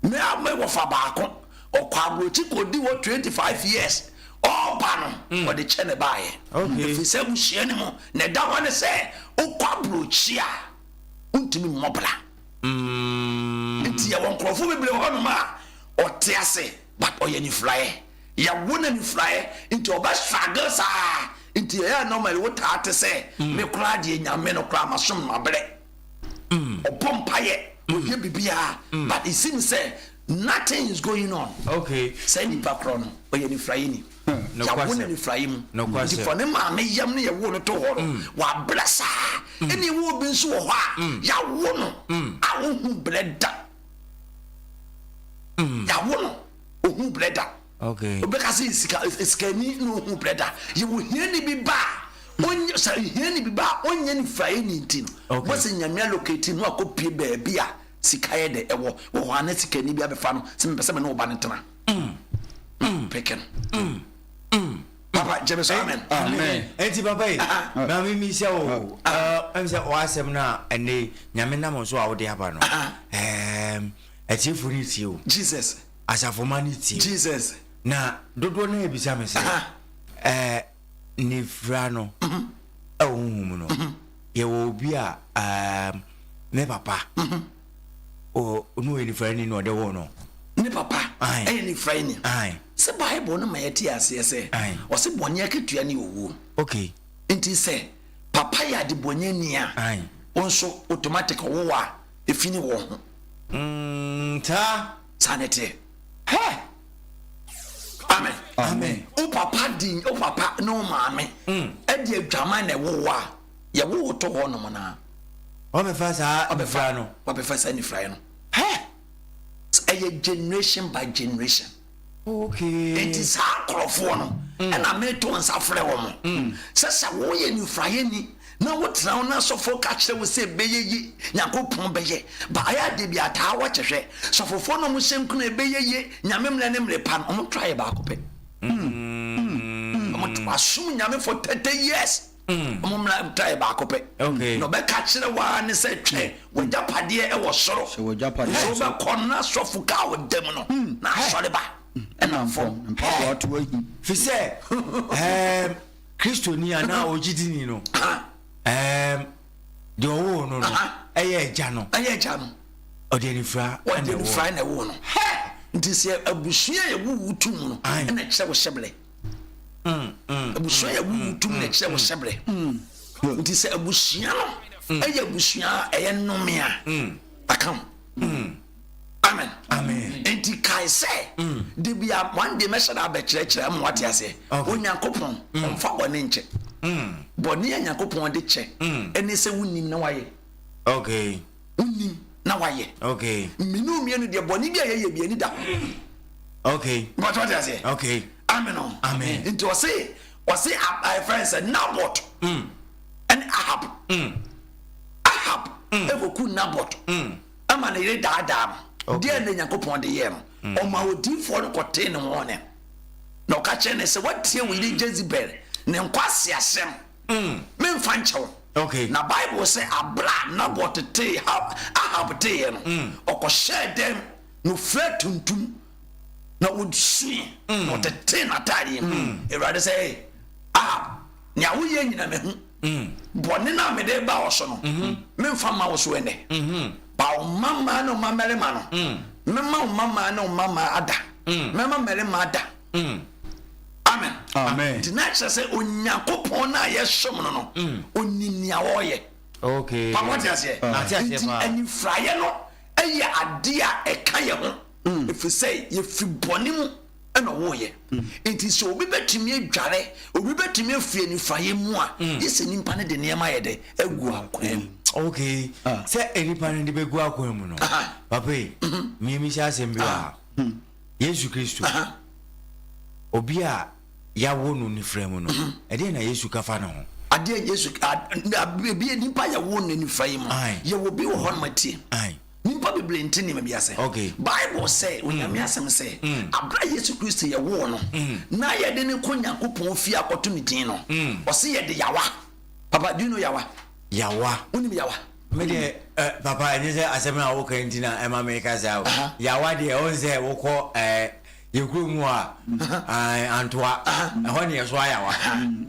me a mewɔ fa baako, ɔkɔ aburokyi kɔdi wɔ 25 years ɔba no mm. ɔde kyɛ ne baayɛ. Ɛfiri sɛ abusua no mu na ɛda hɔ ne sɛ wokɔ aburokyi a wontumi mmɔ bra. mm. Nti yɛwɔ nkorɔfoɔ bebree wɔ hɔnom a ɔte ase but ɔyɛ anifuraeɛ yɛwo no anifuraeɛ nti ɔbɛ struggle saa nti ɛyɛ normally wotaa te sɛ mm. me koraa deɛ nyame no koraa masom no mabrɛ mm. ɔbɔ mpayɛ ɔyɛ biribiaa but ɛsi me sɛ Nothing is going on okay saa nipa korɔ no ɔyɛ nifuraeɛ ni hmm, yawo no nifuraeɛ mu nti fɔ ne maame yam no yɛwo no to hɔ no hmm. wabrɛ saa hmm. ɛne ɛwɔ obi nso wɔ hɔ a yawo no a ɔhu brɛ da yawo no ɔhu brɛ da obɛka sɛ sikani na ɔhu brɛ da yɛwɔ hiani bi ba a sɛ hiani bi ba a ɔnyɛ nifuraeɛ ni nti no mɔsɛ nyame alokati no akɔpie baabi a Sika yɛ dɛ ɛwɔ wɔ hɔ a na sika ni bi abɛfa no sɛ mepɛ sɛ me ne wo ba no tena. Peke no. Papa gyeme so amen. Amen. Enti papa yi na me mi sɛ o ɛm sɛ o asɛm no a ɛnɛ nyame nam nso a wode aba no ɛɛm atiefo no tie o. Jesus. Asafo ma no tie. Jesus. Na dodoɔ no a ebisa me sɛ ɛɛ. nifira no wɔ honhom mu no, yɛwɔ obi a um, ne papa o, ɔno ɔyɛ nifirani na ɔde woo no. Ne papa ɛyɛ nifirani. Sɛ Bible no ma yɛte aseɛ sɛ ɔse bɔne akatua ne owuo. Okay. Nti sɛ papa yɛ adebɔnyɛni a, wo nso automatic ɔwowɔ a ɛfi ne wɔ ho. Mm, saa. Saa ne teɛ. amen wo papa di wo papa ne wo maame ɛde mm. adwaman na ɛwo wo a yɛwo wo to hɔ nom no a wɔbɛfa saa nifra no wɔbɛfa saa nifraeɛ no ɛyɛ generation by generation nti saa nkurɔfoɔ no ɛna mm. meto nsa frɛ wɔ mo mm. sɛ sɛ woyɛ nifraeɛ ni Na wo tena ho na sɔfoɔ ka kyerɛ wo sɛ bɛyɛ ye Nyankopɔn bɛyɛ ba ayɛ adeɛ bi a taa wɔ kyɛ hwɛ sɔfofoɔ na ɔmo hyɛ nkuna yɛ bɛyɛ ye Nyame mmerɛ ne mmerɛ pa no ɔmo try yɛ baako pɛ mm mm mm ɔmo to asom Nyame for 30 years ɔmo mmra try yɛ baako pɛ okay na ɔbɛka kyerɛ wo ara ne sɛ twɛ w'agyapadeɛ ɛwɔ soro hyɛ w'agyapadeɛ nso wobɛkɔ na sɔfo ka wo da mu no na asɔre ba ɛna fam mpaboa to ahi fisɛ ɛɛm. Kristoni anaa ogyidini no, ɛɛm, deɛ ɔwoo no no, ɛyɛ agya no. Ɛyɛ agya no. Ɔde anifira na ɛwoo no. Ɔde anifira na ɛwoo no. Nti sɛ abusua yɛ wuwu tum no, ɛna ɛkyerɛ wo hyɛbrɛ. Mm, mm, abusua yɛ wuwu mm, tum na ɛkyerɛ wo hyɛbrɛ. Nti sɛ abusua no ɛyɛ abusua ɛyɛ nnome a, akam. Amen. Amen. Nti kae sɛ mm. de bi a one day mɛhyɛ da abɛkyerɛkyerɛ ama wate aseɛ. Onyankopɔn mm. ɔmfa bɔne nkyɛ. Mm. Bɔne a Nyankopɔn de kyɛ ɛne sɛ wonim na wayɛ. Okay. Wonim na wayɛ. Okay. Mmienu mmienu deɛ bɔne bi a yɛyɛ bi ani da ho. Okay. Bɔtɔ wate aseɛ. Okay. Amen o. Amen. Nti ɔse ɔse ayɛfrɛ sɛ Nabot. Ɛne Ahab. Ahab ɛkɔku Nabot. ama ne yere daadaa no. Deɛn na Nyankopɔn de yɛɛ no? Ɔmaa odiyifoɔ no kɔtee ne ho ne na ɔka kyerɛ ne sɛ, woatie wo yere Jezebel ne nkwaseasɛm, mm. memfa nkyɛ wo. Okay. Na Bible sɛ abla a Nabot tee Ahab teeɛ no, mm. ɔkɔhyɛɛ dɛm na ɔfira tuntum na ɔsui mm. na ɔtetee n'ataadeɛ mu. Mm. Awurade sɛ, Ahab, nea woyɛ nyina mahu. Bɔne no a mede reba wo so no, meremfa mma wo so ɛnnɛ. Paw wo mma mmaa ne wo mma mmarima no. Mɛma wo mma mmaa ne wo mma mmaa ada. Mɛma mmarima ada. Amen. Nti na kyerɛ sɛ Onyankopɔn no a yɛsom no no, onim nea ɔreyɛ. Papa wate aseɛ? Nti anifuraeɛ no yɛ adeɛ a ɛka yɛn ho, ɛfiri sɛ yɛfiri bɔne mu. ɛna ɔwɔɔyɛ mm. nti sɛ obi bɛtumi adware obi bɛtumi afi anifayɛ mu a mm. yɛ sɛ nipa no de nneɛma yɛ dɛ agu akoa mu ok ah. sɛ nipa no de bɛgu akoa mu no papa yi mmemihyɛ mhm. asɛm bi wɔ ha hmm. yesu kristo obi a yɛawo no nifra mu no mhm. ɛdeɛ na yesu ka fa ne ho adeɛ yesu ebi nipa yɛwo no nifra yi mu yɛwɔ bi wɔ hɔ no ma tie Nyimpa beberee nntse nneɛma bi ase. Bible sɛ, Onyame asɛm sɛ, Aber a Yesu Kristo yɛwoo no na yɛde no kɔ Nyankopɔn fie akɔto ne dzin no, ɔse yɛde yawa. Papa, do you know yawa? Yawa? Wonim yawa? Me deɛ eh, papa ɛnyɛ sɛ asɛm no a woka nti na ɛma meka saa o. Yawa deɛ ɔhu sɛ wokɔ eh, Yɛkɔ mu a, ae, antoa, ɛhɔ ne yɛsoa yawa.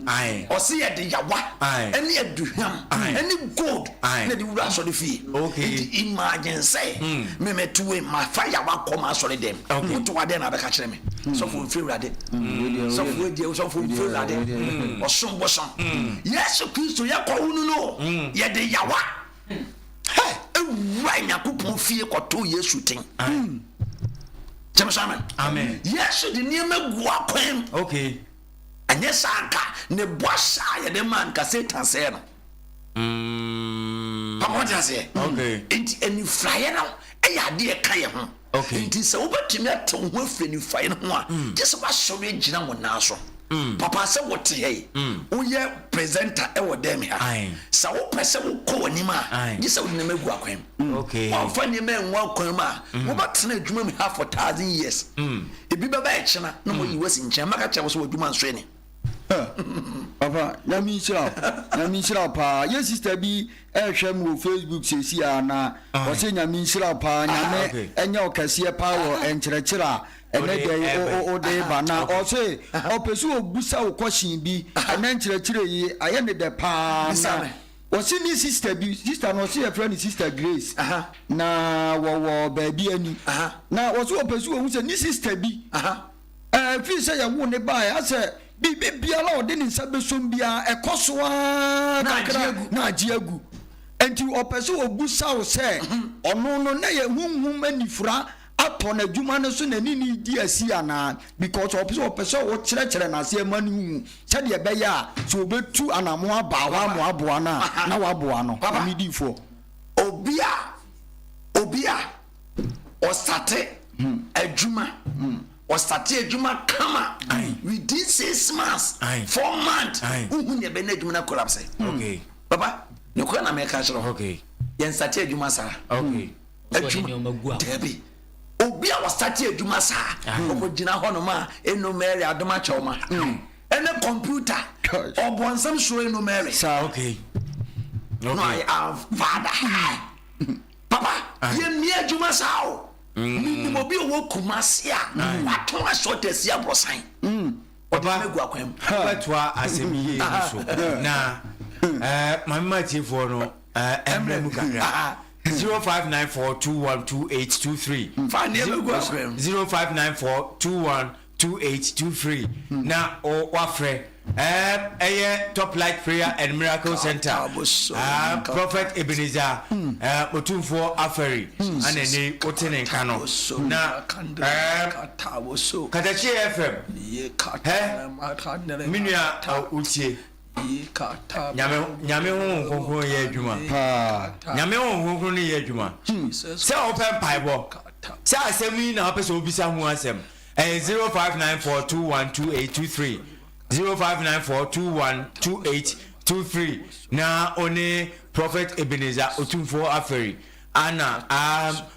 Ae. Ɔse yɛde yawa, ɛne aduhwam, ɛne gold na ɛde wura asɔre fie. Okay. Nti imagine sɛ, hmm. me me to wei, ma fa yawa kɔ ma asɔre dɛm. Okay. Wo to adeɛ na abɛka kyerɛ me. Hmm. Sɔfo nfiri wurade. Hmm. Sɔfo wadiɛ, sɔfo nfiri wurade. Ɔsom bosom. Yesu Kristo yɛkɔ wo no no, yɛde yawa. wura nyankopɔn fie kɔto yesu ten gyeme so amen yesu de nneɛma gu akwan okay ɛnyɛ saa nka ne bɔ hyɛ a yɛde ma nka satan sɛɛ no pamɔde mm. aseɛ nti anifraeɛ no ɛyɛ adeɛ ɛka yɛ ho Enti sɛ wobɛtumi ate wo ho afiri anifuraeɛ no ho a, gye sɛ woasɔre agyina wo nan so. Papa, sɛ wote ha yi, woyɛ presenter wɔ dɛm ha, sɛ wopɛ sɛ wokɔ w'anim a, gye sɛ wode nneɛma agu akwan mu. Woamfa nneɛma angu akwan mu a, wobɛtena adwuma mu ha for thousand years. Ebi bɛba ɛkyena na wɔayi wo asi nkyɛn, mɛka kyerɛ wo sɛ w'adwuma nso ni. papa nyame nhyira wo nyame nhyira wo paa yɛ sister bi ɛhwɛ m wɔ facebook sɛsi a na ɔsɛ nyame nhyira wo paa nyame ɛnyɛ ɔkɛseɛ paa wɔ ɛnkyerɛkyerɛ a ɛnɛ dɛ wode ba na ɔse ɔpɛ sɛ ɔbusa wo kɔhyen bi ɛnɛ nkyerɛkyerɛ yi ayɛ ne dɛ paa na ɔse ne sister bi sister no ɔse yɛfrɛ ne sister grace na wɔwɔ baabi ani na ɔse ɔpɛ sɛ ɔhu sɛ ne sister bi Ɛfiri sɛ yɛwoo no baeɛ, asɛ biribi biara a ɔde ne nsa bɛsom biara, ɛkɔ so ara kakra na agye agu. Enti ɔpɛ sɛ ɔbisa wo sɛ, ɔno no na yɛ honhom anifura atɔ n'adwuma no so na ne ne redi asi anaa? Because ɔpɛ sɛ ɔpɛ sɛ wokyerɛkyerɛ no aseɛ ma no hu sɛdeɛ ɛbɛyɛ a sɛ ɔbɛtu anamo aba hɔ ama aboa no a, na woaboa no. Medi foɔ. Obi a, obi a. ɔsate adwuma ɔsate adwuma kama within six months four months wohu nea ɛbɛn adwuma no collapse baba ne kora na mɛka kyerɛ hɔ yɛnsate adwuma saa adwuma daabi obi a wɔsate adwuma saa ɔkɔgyina ah. hɔnom a ɛnu mary adom akyɛw ma hmm. ɛne kɔmputa ɔbɔnsɛm suro ɛnu mary no i am father hmm. Papa yɛ mia adwuma saa o. Mm. Me nim obi a ɔwɔ Kumasi a watɔn asɔɔte asi aborosan. Mm. Ɔde Papa, megu akwan mu. wobɛtoa asɛm yie no so na eh, mame ma atiefoɔ no eh, ɛmmerɛ mu kakra Aha. 0594212823 Fa nneɛma gu akwan mu. 059421 two eight two free na wafrɛ ɛyɛ top light prayer and miracle center prophet ebeneza otumfoɔ afɛri ana ɛnɛ wote ne nka no na katakye fm ɛ menua wotie Nyame Nyame honhom kronkron no yɛ adwuma paa Nyame honhom kronkron no yɛ adwuma hmm sɛ wopɛ mpaebɔ sɛ asɛm yi na wopɛ sɛ wobisa ho asɛm ɛyɛ 0594212823 0594212823 na one Prophet Ebenezer Otumfoɔ Aferi ana um,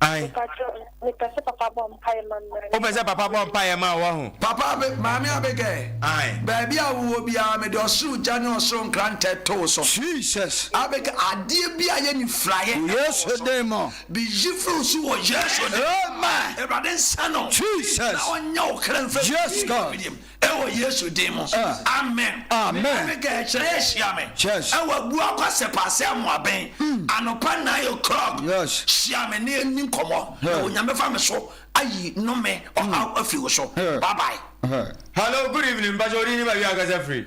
Ae. Wopɛ sɛ papa bɔ mpaeɛ ma wo wahu? Papa Abe, Maame Abigail, Ae. baabi a wowɔ biara mede ɔsoro gya ne ɔsoro nkrantɛ to wo so. Jesus. Abigail, adeɛ bi a ɛyɛ nifuraeɛ ɛtɔ wo so. Wɔ Yesu din mu. Beyi firi wo so wɔ Yesu din mu. Amen. Awurade nsa no. Jesus. Na ɔnyɛ wo kra mfiri. Yes God. Ɛwɔ Yesu din mu, amen. Me Abigail, kyerɛ yɛ hyia me ɛwɔ Abua Kwasɛ Paase Amoaben anɔpa nine o'clock. Hyia me na yɛnni nkɔmmɔ na Onyame fa me so ayi nnome, ɔhaw afi wo so. Bye bye. Hello, good evening, mpakyɛ wo din ne baabi a wo kasa firi?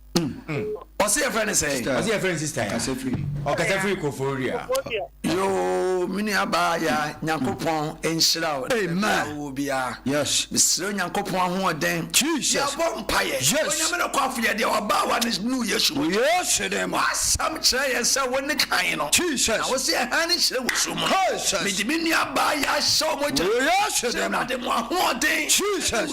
Ɔsi yɛ fɛ ne sɛ. Ɔsi yɛ fɛ ne sista ya. Ɔkasa firi. Ɔkasa firi Koforidua. Yoo mini abaa ya nyankopɔn nhyira o. Amen. Wo bia. Yes. Mesrɛ nyankopɔn ahoɔden. Jesus. Yɛbɔ mpaeɛ. Yes. Onyame no kɔ afo yɛ deɛ ɔbaa wa ne nu Yesu. Wɔ Yesu ne mu. Wasɛm kyerɛ yɛn sɛ wo ne kan no. Jesus. Na wosɛ ɛhan ne hyerɛ wɔ su mu. Jesus. Mede me nua abaa ya ahyɛ ɔmɔ gya. Wɔ Yesu ne mu. Sɛ ɛwurade mo ahoɔden. Jesus.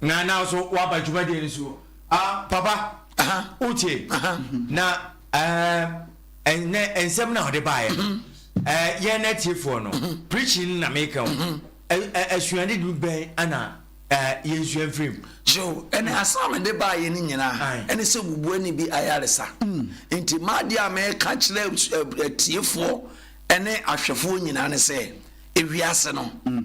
Na na nso waba dwumadie no so. Ah, papa, wotie na ɛnɛ nsɛm na ɔde baeɛ no. Mm-hmm. Yɛn atiefoɔ no, mm-hmm. preaching na meka wo. Mm-hmm. Asuade du bɛn ana yɛnsua mfiri mu? So, ɛne asɛm mede baeɛ no nyinaa ɛne sɛ bubuani bi ayaresa. Mm. Nti maadeɛ a meka kyerɛ atiefoɔ ɛne ahwɛfoɔ nyinaa ne sɛ, ewiase no, mm.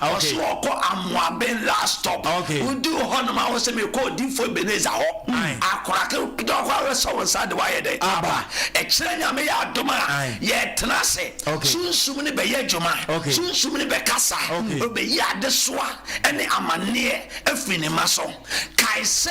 Ɔse ɔkɔ Amoaben last stop Oduru hɔ nom a ɔse mekɔ Odiyifoɔ Ebenezer hɔ Akora ketewa koraa bɛsɔ wo nsa de wayɛ dɛn aba Ɛkyerɛ Nyame yɛ adom a yɛtena ase Sunsum no bɛyɛ adwuma Sunsum no bɛkasa Ɔbɛyi adesoa ne amaneɛ afiri ne mma so Kae sɛ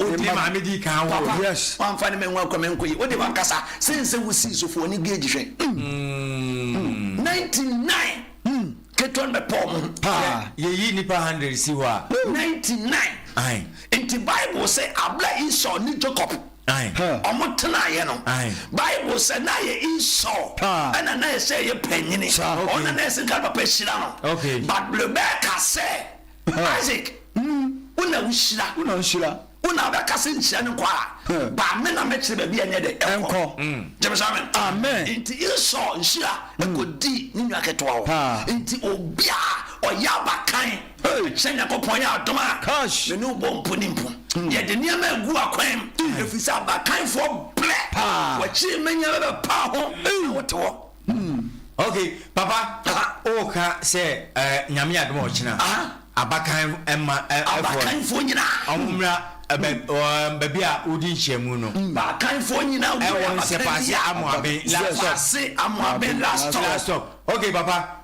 Odi ma maame di kan wɔ Papa yes. wanfa ne ma nwa kwa mɛnkɔ yi ode wankasa sɛn sɛ wo sii so fo ɔne gauge hwɛ mm 99 ketewa no bɛpɔ ɔmo ho paa. Yɛyi nipa hundred si hɔ a. 99 Ae. Nti bible sɛ abla Esau ne Jacob Ae. ɔmo tenaeɛ no Ae. bible sɛ na yɛ Esau Paa. ɛna na ɛsɛ yɛ panyini Sa. ɔno Okay. na na ɛsɛ nka ne papa hyira no Okay. but brebeka sɛ Isaac nu wo na wo hyira. Wo na wo hyira. Wo na wo bɛ kase nkyerɛ ne nkwa a, ba me na mɛ kyerɛ bɛbi a nyɛ dɛ nkɔ. Gyeme sɛ amen. Amen. Nti Esau nhyira ɛkɔ di ne nua ketewa hɔ. Nti obi a ɔyɛ abakan kyerɛ Nyankopɔn yɛ adom a, me ne wo bɔ mpo ne mpo. Yɛ de nneɛma agu akwan mu, ɛfiri sɛ abakanfoɔ brɛ, wakyiri mɛ nyɛ bɛ bɛ paa ho na wo te hɔ. Ok papa woka sɛ nyame adom ɔkyena abakan ma abakanfoɔ nyina ɔmo mmra baabi a wodi nhyiamu no abakanfoɔ nyina ɛwɔ nsɛpaase amoaben last stop ok papa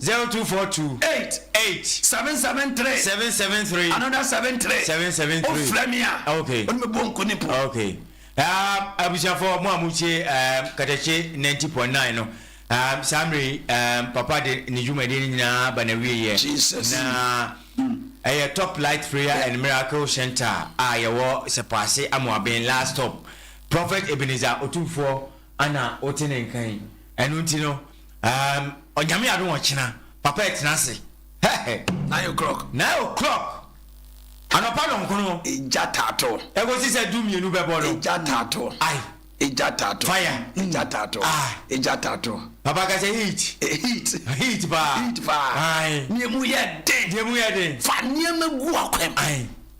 Zero two four two. Eight eight. Seven seven three. Seven seven three. Another seven three. Seven seven three. O frɛ mi a. Okay. Ɔne mi bɔ nko ne po. Okay. Um, abusuafo mo a mo tie um, katakye ninety point nine no um, saa mmerɛ yi um, papa de ne dwumadie no nyinaa ba na wie yɛ. Jesus. Na mm. ɛyɛ Top Light Prayer yeah. and Miracle Center a yɛwɔ Sɛpɔase Amoaben last stop. Prophet Ebenezer Otumfoɔ ana wote ne nkan. Ɛno nti no, Um, ɔnyame adom ɔkyena, papa ɛtena ase. Hɛhɛ. Nine o'clock. Nine o'clock. Anɔpa nɔnkono. Egya taato. Ɛkɔsi sɛ du mmienu bɛbɔ no. Egya taato. Ai. Egya taato. Fire. Egya taato. Ah. Egya taato. Papa ka sɛ heat. Eh, heat. Heat paa. Heat paa. Ai. Nea mu yɛ den. Deɛ mu yɛ den. Fa nneɛma gu akwam. Ai.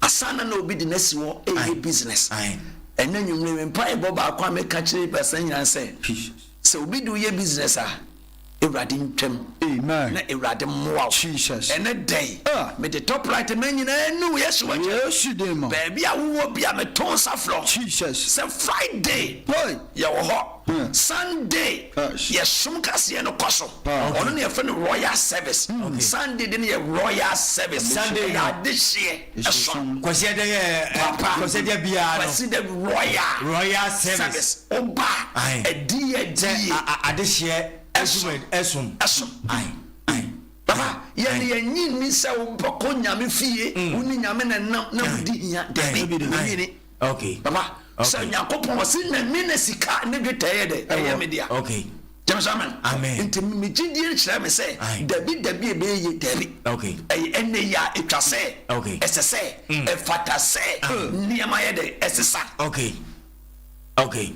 Asaana na obi de no asi hɔ reyɛ business. Ɛnnɛ anwummere me mpaebɔ baako a meka kyerɛ Pastor Nyan ne sɛ, sɛ obi de wo yɛ business a, Awurade ntwam na Awurade mmoa wo. Ɛnnɛ da yi, mede top right mmɛn nyinaa nu wɔ Yesu w'akyɛ. Baabi a wowɔ bi a meto nsa frɛ wo sɛ Friday yɛwɔ hɔ. Sunday yɛ som kaseɛ no kɔ so ɔno na yɛfrɛ no royal service Sunday de no yɛ royal service Sunday yɛ adehyeɛ ɛsom Kwasi ɛdɛ yɛ papa Kwasi ɛdɛ biara no Kwasi ɛdɛ royal royal service ɔba ɛdi yɛ di yɛ adehyeɛ ɛsom ɛsom ɛsom ayi ayi papa yɛ ni yɛ nyi ni sɛ ɔbɛkɔ nyame fie ɔni nyame na nam na ɔdi hia dɛbi ɔni ni. Okay. Papa, okay. sɛ Nyankopɔn ɔse nyame na sika ne dwetɛ yɛ dɛ ɛyɛ me dea. Okay. Gyeme sɛ amen. Amen. Nti me gyidie nkyerɛ me sɛ dabi dabi ɛbɛyɛ yie dabi. Okay. Ɛyɛ ɛnɛ yi a ɛtwa sɛ. Okay. Ɛsɛ sɛ. Mm. Ɛfata sɛ. Nneɛma yɛ dɛ ɛsesa. Okay. Okay.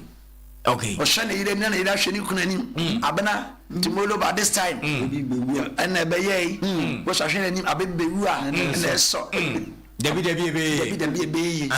Okay. Ɔhyɛ ne yere anim na ne yere ahwɛ ne kunu anim. Mm. Abena Timolo ba this time. Mm. Ɛna ɛbɛyɛ yi. Mm. Wɔhyɛ ahwɛ n'anim abebewu a mm. ɛna ɛsɔ. Mm. Dabi dabi ebe. Dabi dabi ebe yi.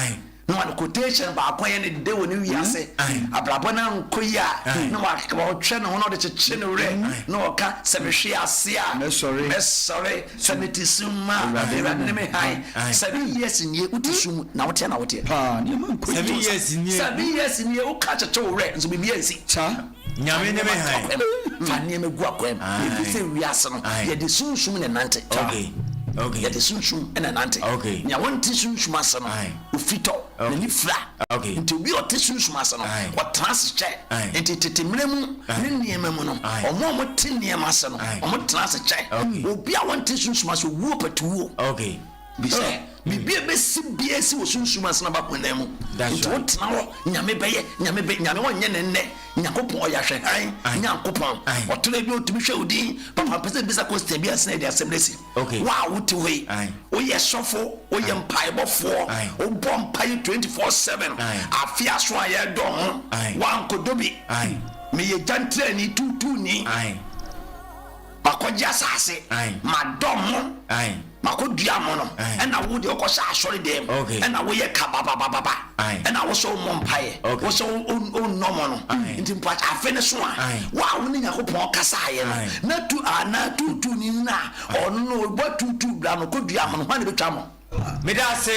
Na wɔn quotation baako yɛ ne de wɔ ne wiase. Abrabɔ na nko yi a na wɔtwɛ ne ho na ɔde kyekye ne werɛ na ɔka sɛ mehwe ase a mɛsɔre. Sɛ me te sum mu a, Awurade ne me hann. Seven years nie wo te sum mu na wo teɛ na wo teɛ paa nneɛma nkɔ yie o saa. Seven years nie wo ka kyekye wo werɛ nso biribi ansi saa. Nyame ne me hann. Fa nneɛma gu akwan mu. Yɛnni sɛ wiase no yɛde sunsum na ɛnante. Yɛde sunsum na ɛnante. Nea ɔnte sunsum ase no. Ofitɔ na ne fira. Nti obi a ɔte sunsum ase no, ɔtena ase kyɛ. Nti tete mmere mu ne nneɛma mu no, wɔn a wɔte nneɛma ase no, wɔtena ase kyɛ. Obi a ɔnte sunsum ase, owuo patuwuo. Bi sɛ, biribi a ɛbɛsi biara ɛsi wɔ sunsum ase na ɛba honam mu. Nti wotena hɔ, Nyame bɛyɛ, Nyame bɛ, Nyame wɔnyɛ no nnɛ. Nyankopɔn ɔyɛ ahwɛhan Nyankopɔn. Ɔtɔ da bi a ɔtumi hwɛ wo din. Papa mpɛ sɛ mebisa question bi ansa na yɛde asɛm no asi. wo a wote hɔ yi, woyɛ sɔfo, woyɛ mpaebɔfoɔ, wobɔ mpaeɛ 24/7, afe aso a yɛredɔ ho, woankɔdɔ bi. Meyɛ gyantirani tuutuuni, makɔgye asase, madɔ mo, makɔdua mo no, ɛna wo deɛ wokɔhyɛ asɔre dɛm, ɛna woyɛ kababababa. Ɛna wosɛ wommɔ mpaeɛ, wosɛ wonnɔ mɔ no. Nti mpakyɛ afe no so a, wo a wo ne Nyankopɔn kasaeɛ no, na tu anaa tuutuuni no a ɔno no ɔbɔ tuutuu bra no kɔdua ho no, hwan na ɛbɛtwa mɔ? Meda ase.